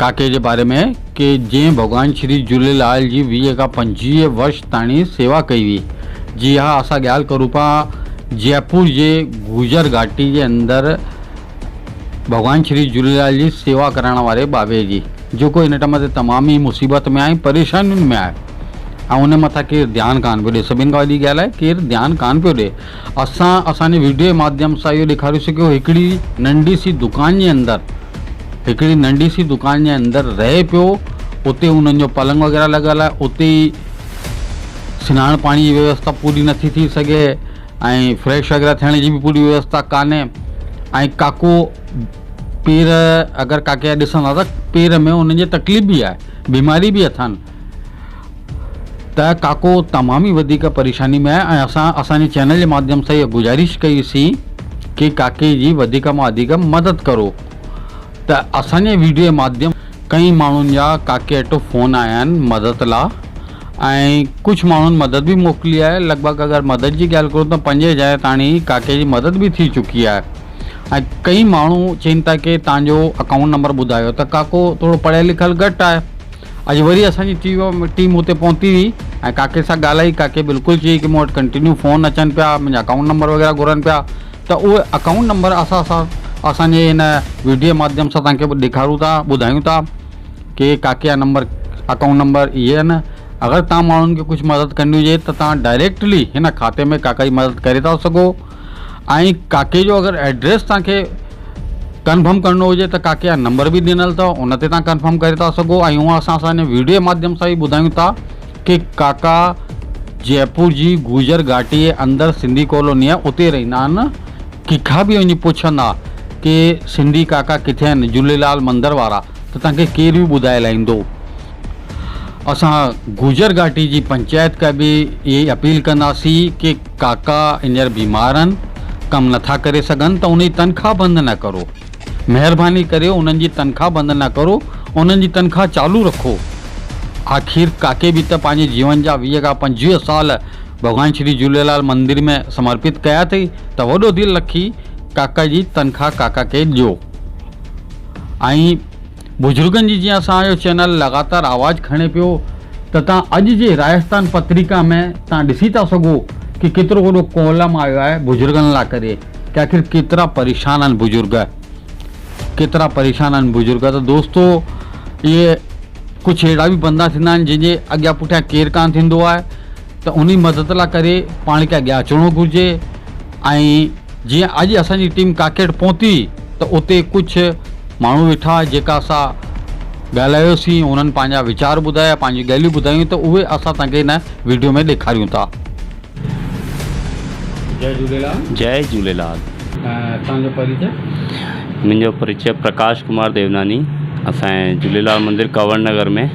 ڪاڪي جي باري ۾ ڪي جنهن ڀڳوان شري جهوليلال جي ويهه کان پنجويهه ورش تاڻي سيوا ڪئي هئي جي ها اسان ڳالهه ڪرون پيا جئپور جي گوجر گهاٽي جي اندر ڀڳوان شري جهوليلال جي سيوا ڪرائڻ واري ٻاٻي جي جيڪو هن ٽئم تي تمام ئي مصيبت ۾ آهي پريشانين ۾ آهي ۽ ان مٿان ڪير ڌيان ڪان پيو ڏي سڀين کان وڏي ڳالهه آهي ڪير ڌيان ڪان پيو ڏي اسان اسان جي ويڊيو جي ماڌيم سان اهو ڏيکاريون سين ڪه هڪڙي ننڍي سي دڪان جي اندر هڪڙي ننڍي سي دڪان جي اندر رهي پيو اتي انهن جو پلنگ وغيره لڳل آهي اتي سناڻ پاڻي جي ويوستا پوري نٿي ٿي سگهي ۽ فريش وغيره ٿيڻ جي به پوري ويوستا ڪانهي ۽ ڪاڪو پير اگر ڪاڪي جا ڏسندا ته پير ۾ انهن جي تڪليف به آهي بيماري به اٿن ته ڪاڪو تمام ئي وڌيڪ پريشاني ۾ آهي ۽ اسان اسان جي چينل جي ماڌيم سان اها گذارش ڪئي سين ڪي ڪاڪي جي وڌيڪ مان وڌيڪ مدد ڪرو ته اسان جي ويڊيو جي ماڌيم ڪئين ماڻهن جا ڪاڪي اٽو فون آيا آهن مدد لا ۽ ڪجهه ماڻهن مدد به موڪلي آهي لڳ ڀڳ اگر مدد جي ڳالهه ڪرون ته پنج هزار تاڻي ڪاڪي جي مدد به ٿي چڪي آهي ۽ ڪئين ماڻهو چين ٿا ڪي تانجو اڪائونٽ نمبر ٻڌايو ته ڪاڪو ٿورو پڙهيل لکيل گهٽ آهي اڄ وري اسان جي ٽيم اتي پهتي هئي ۽ ڪاڪي سان ڳالهائي، ڪاڪي بلڪل چيائين ته مون وٽ ڪنٽينيو فون اچن پيا، منهنجا اڪائونٽ نمبر وغيره گهرن پيا ته اهي اڪائونٽ نمبر اسان سان اسان جي هن ويڊيو ماڌيم سان تنهنکي ڏيکارون ٿا ٻڌايون ٿا ڪي ڪاڪي جا نمبر اڪائونٽ نمبر اهي آهن اگر تهان ماڻهن کي ڪجهه مدد ڪرڻي هجي ته تهان ڊائريڪٽلي هن کاتي ۾ ڪاڪا جي مدد ڪري ٿا سگهو. ۽ ڪاڪي جو اگر ايڊريس توهان کي ڪنفرم ڪرڻو هجي ته ڪاڪي جا نمبر به ڏنل اٿو ان تي توهان ڪنفرم ڪري ٿا سگهو ۽ هونء اسان سان هن ويڊيو جي ماڌيم سان به ٻڌايون ٿا ڪي ڪاڪا جئپور جي گوجر گهاٽي جي اندر سنڌي ڪالوني آهي اتي رهندا آهن ڪيکان به وڃي پڇندا ڪي سنڌي ڪاڪا ڪٿي آهن جهوليلال مندر وارا ته توهان کي ڪير به ٻڌائي لائيندو اسان گوجر گهاٽي جي پنچائت کي به اهي اپيل ڪنداسين ڪي ڪاڪا هينئر بيمار آهن، ڪم نٿا ڪري سگهن ته انهن جي تنخواه بند نه ڪرو. مهرباني ڪري انهن جي تنخواه بند نه ڪرو، انهن جي تنخواه چالو رکو. آخر ڪاڪي به ته پنهنجي جيون جا ويهه کان پنجويهه سال ڀڳوان شري جهوليلال مندر ۾ سمرپت ڪيا اٿئي ته وڏو دل رکي ڪاڪا جي تنخواه ڪاڪا کي ڏيو. ۽ بزرگن جي جيئن اسان جو چينل لڳاتار آواز کڻي پيو ته تان اڄ جي راجستان پتريڪا ۾ تان ڏسي ٿا سگهو ڪي ڪيترو وڏو ڪولم آيو آهي بزرگن لا ڪري ڪي آخر ڪيترا پريشان آهن بزرگ ڪيترا پريشان آهن بزرگ ته دوستو اهي ڪجهه اهڙا به بندا ٿيندا آهن جن جي اڳيان پٺيان ڪير ڪان ٿيندو آهي ته انهي مدد لا ڪري پاڻ کي اڳيان اچڻو گهرجي ۽ جيئن اڄ اسان جي ٽيم ڪاڪيٽ پهتي ته اتي ڪجهه ماڻهو ويٺا جيڪا اسان ڳالهايوسين انهن پنهنجا ويچار ٻڌايا پنهنجي ڳالهيون ٻڌايون ته اهي اسان تنهن کي هن ويڊيو ۾ ڏيکاريون ٿا. جئي جهوليلال. جئي جهوليلال. توهان جو پريچئ. منهنجو پريچئ پرڪاش ڪمار ديوناني اسان جي جهوليلال مندر ڪنور نگر ۾.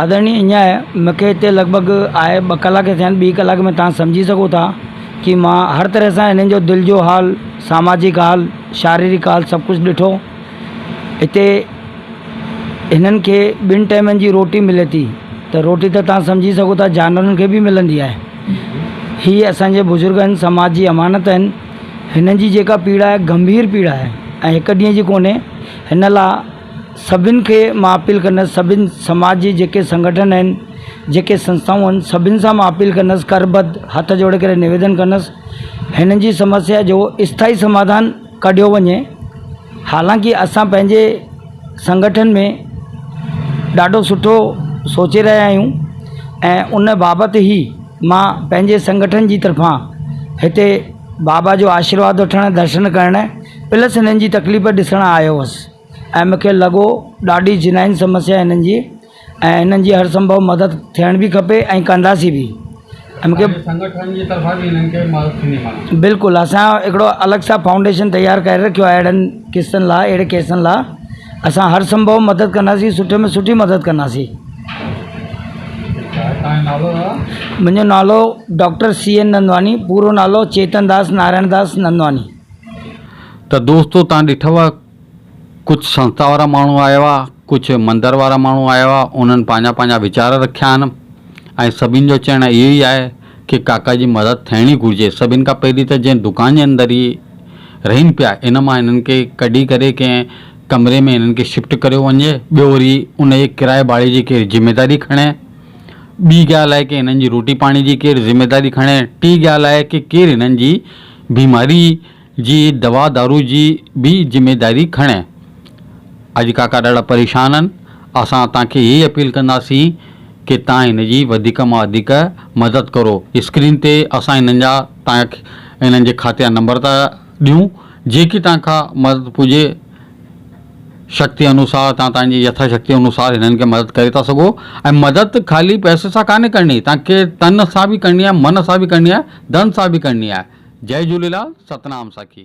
آدرڻي اڃاء مونکي هتي لڳ ڀڳ آئي ٻه ڪلاڪ ٿيا آهن ٻي ڪلاڪ ۾ توهان سمجهي سگهو ٿا ڪي مان هر طرح سان هنن جو دل جو حال ساماجڪ حال شاريرڪ حال سڀ ڪجهه ڏٺو هتي هنن کي ٻن ٽيمن جي روٽي ملي ٿي ته روٽي ته توهان سمجهي سگهو ٿا جانورن کي به ملندي آهي هي اسانجي بزرگ آهن سماج جي امانت آهن هنن جي جيڪا پيڙا آهي گنڀير پيڙا آهي ۽ هڪ ڏينهن جي ڪونهي هن لا سڀن کي مان اپيل ڪندس سڀن سماج جي جيڪي سنگٺن آهن جيڪي سنسٿائون آهن سڀن سان مان اپيل ڪندس ڪر ٻڌ هٿ جوڙي ڪري نويدن ڪندس هنن جي سمسيا جو اسٿائي سماڌان ڪڍيو وڃي حالانڪه اسان پنهنجي سنگٺن ۾ ڏاڍو سٺو سوچي رهيا آهيون ۽ ان بابت ئي مان پنهنجي سنگٺن جي طرفان هتي بابا جو آشيرواد وٺڻ درشن ڪرڻ پلس هنن جي تڪليف ڏسڻ آيو هوس ۽ مون کي لڳو ڏاڍي جنائن سمسيا آهي هنن جي ۽ هنن جي هر سنڀو مدد ٿيڻ به کپي ۽ ڪنداسين به ۽ مون کي سنگٺن جي طرفان به هنن کي مدد ٿيندي مانو بلڪل اسان هڪڙو الڳ سان فائونڊيشن تيار ڪري رکيو آهي اهڙن قسطن لاء اهڙي ڪيسن لاء اسان هر سنڀو مدد ڪنداسين سٺي ۾ سٺي مدد ڪنداسين. ٺيڪ آهي تنهنجو نالو دادا؟ منهنجو نالو ڊاڪٽر سي اين نندواني پورو نالو چيتن داس نارائڻ داس نندواني. ته دوستو تان ڏٺو آ ڪجھ سنسٿا وارا ماڻھو آيا ھئا ڪجھ مندر وارا ماڻھو آيا ھئا انھن پنھنجا پنھنجا ويچار رکيا آھن ۽ سڀني جو چئڻ اھو ئي آھي ڪي ڪاڪا جي مدد ٿيڻي گھرجي سڀني کان پھرين ته جنھن دڪان جي اندر ھي رھين پيا ان مان ھنن کي ڪڍي ڪري ڪنھن ڪمري ۾ ھنن کي شفٽ ڪريو وڃي ٻيو وري ان جي ڪرايي ڀاڙي جي ڪير ذميداري کڻي ٻي ڳالھ آھي ڪي ھنن جي روٽي پاڻي جي ڪير ذميداري کڻي ٽي ڳالھ آھي ڪي ڪير ھنن جي بيماري جي دوا دارو جي به ذميداري کڻي. اڄ ڪاڪا ڏاڍا پريشان آهن، اسان تان کي اهي ئي اپيل ڪنداسين ڪي تان هن جي وڌيڪ مان وڌيڪ مدد ڪرو. اسڪرين تي اسان هنن جا تان کي هنن جي کاتي جا نمبر ٿا ڏيون جيڪي تان کان مدد پجي شڪتي انوسار تان تان جي يٿا شڪتي انوسار هنن کي مدد ڪري ٿا سگهو ۽ مدد خالي پئسي سان ڪانهي ڪرڻي تان کي تن سان به ڪرڻي آهي من سان به ڪرڻي آهي ڌن سان به ڪرڻي آهي جئ جهوليلال ستنام ساکي.